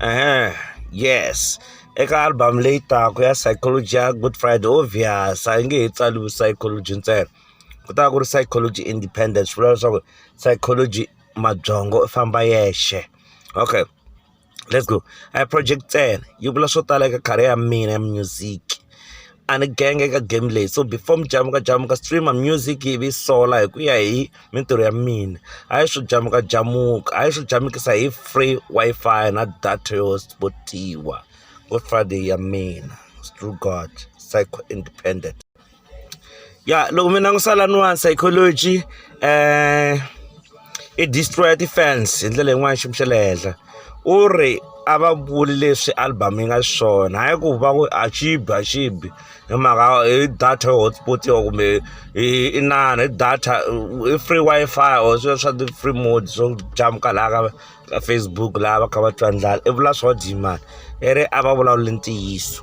Uh-huh. yes eka album leyi taka ya psychology ya good friday obvious a yi nge he tsaliwi psychology ntsena ku ta ku ri psychology independence swi vula leswaku psychology mabyongo u famba yexe okay let's go a project ntsena yi vula swo tala eka career ya mina ya music a ni genge eka game leyi so before mujamukajamuka streamer music yi vi sola hi ku ya hi mintirho ya mina hayi swo jamukajamuka hayi swo jamukisa hi free Wi-Fi na data yo spotiwa ngo Friday ya mina through God psycho independent. ya loko mi langusa laniwani psychology um i destroya ti-fans hi ndlela yin'wana xiyimo xa le henhla u ri a va vuli leswi album yi nga swona hayi ku va ku a xibi a xibi hi mhaka hi data yo hotspot yo kumbe hi inana hi data i free wi-fi or swilo swa ti-free mode swo jamuka laha ka ka facebook laha va kha va twa ndlala i vula swo dyi mani i ri a va vulavuli ntiyiso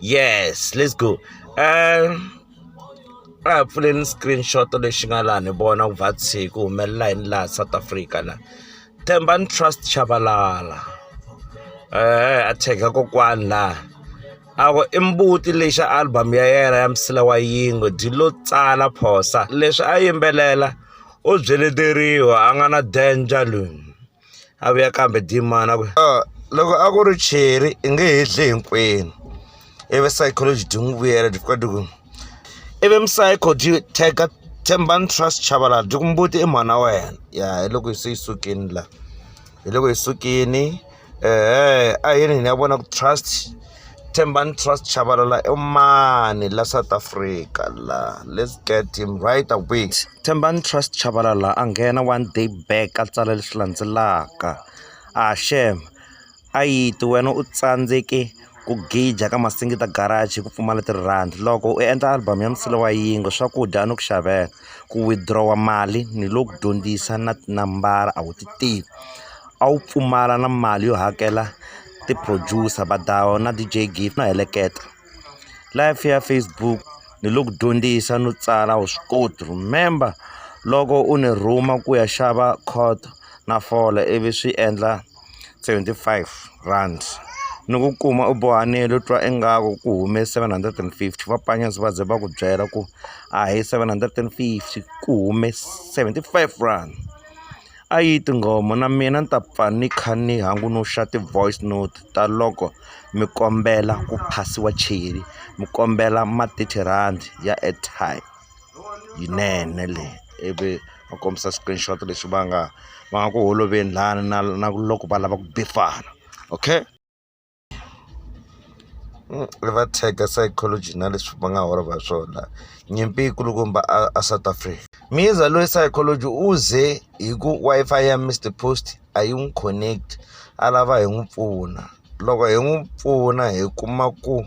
yes let's go um a hi pfuleni screenshot lexi nga laha ni vona ku va tshiku humelela yini laha south africa la themba ni trust chavalala eh a cheka kokwani laha a ku i mbuti lexi album ya yena ya msila wa yingo dyi lo tsala phosa leswi a yimbelela u byeleteriwa a nga na danger loyi a vuya kambe dimani a ku loko a ku ri cheri i nge he dle hinkwenu ivi psychology ti n'wi vuyela ti fika ti ku ivi psycho ti teka thembani trust chavalala ti ku mbuti i mhana wa wena ya hi loko se yi sukini la hi loko hi sukini ehe a yini hina ya vona ku trust Thembani Trust Chabalala i mani la South Africa la let's get him right away Thembani Trust Chabalala a nghena one day back a tsala leswi landzelaka a ah, shem a yiti wena u tsandzeke ku gija ka masingita garage ku pfumala tirhandi loko u endla album ya msilo wa yingo swakudya a ni ku xavela ku withdrawa mali ni lo ku dyondzisa na tinambara a wu ti tivi a wu pfumala na mali yo hakela ti-producer va dawu na D_J Gee no heleketa. Live ya Facebook ni lo ku dyondzisa no tsala wa swi koti remember loko u ni rhuma ku ya xava khoto na fole ivi swi endla seventy five rand ni ku kuma u bohanile u twa ingaku ku hume seven hundred and fifty va panyas va ze va ku byela ku a hi seven hundred and fifty ku hume seventy five rand. A yi tinghoma na mina ni ta pfa ni kha ni hangunuxa ti-voice note ta loko mi kombela ku phasiwa cheri mi kombela ma thirty rhandi ya airtime yinene leyi ivi va kombisa screenshot lexi va nga va nga ku holoveli lani na na loko va lava ku bifana okay. ri va tag-a psychology na leswi va nga horova hi swona nyimpi yi kulukumba a a south africa miza loyi psychology u ze hi ku wi-fi ya mr post a yi n'wi connect a lava hi n'wi pfuna loko hi n'wi pfuna hi kuma ku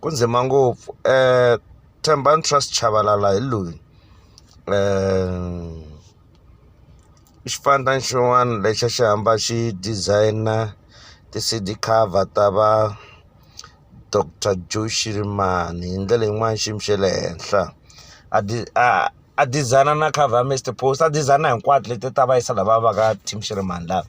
Ku ndzima ngopfu Thembani Trust Chabalala hi loyi i xipandza xin'wana lexi a xi hamba xi designer ti-C_D cover ta va doctor Joe Shirimani hi ndlela yin'wani xiyimo xa le henhla a a a designer na cover ya Mister Post a designer hinkwato leti ta va yisa lava va ka team Shirimani lava.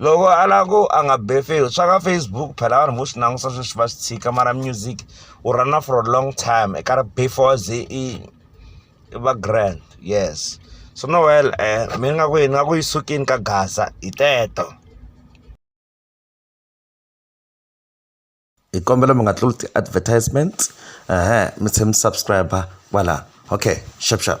loko a lava ku a nga be face swa ka facebook phela vanhu vo swi langusa sweswi va swi tshika mara music u rana for a long time eka ri before ze i va grand yes so no well eh mi nga ku yini nga ku yi sukini ka gaza hi teto hi kombela mi nga tluli ti-advertisement ehe mi tlhe mi subscribe kwala okay shap shap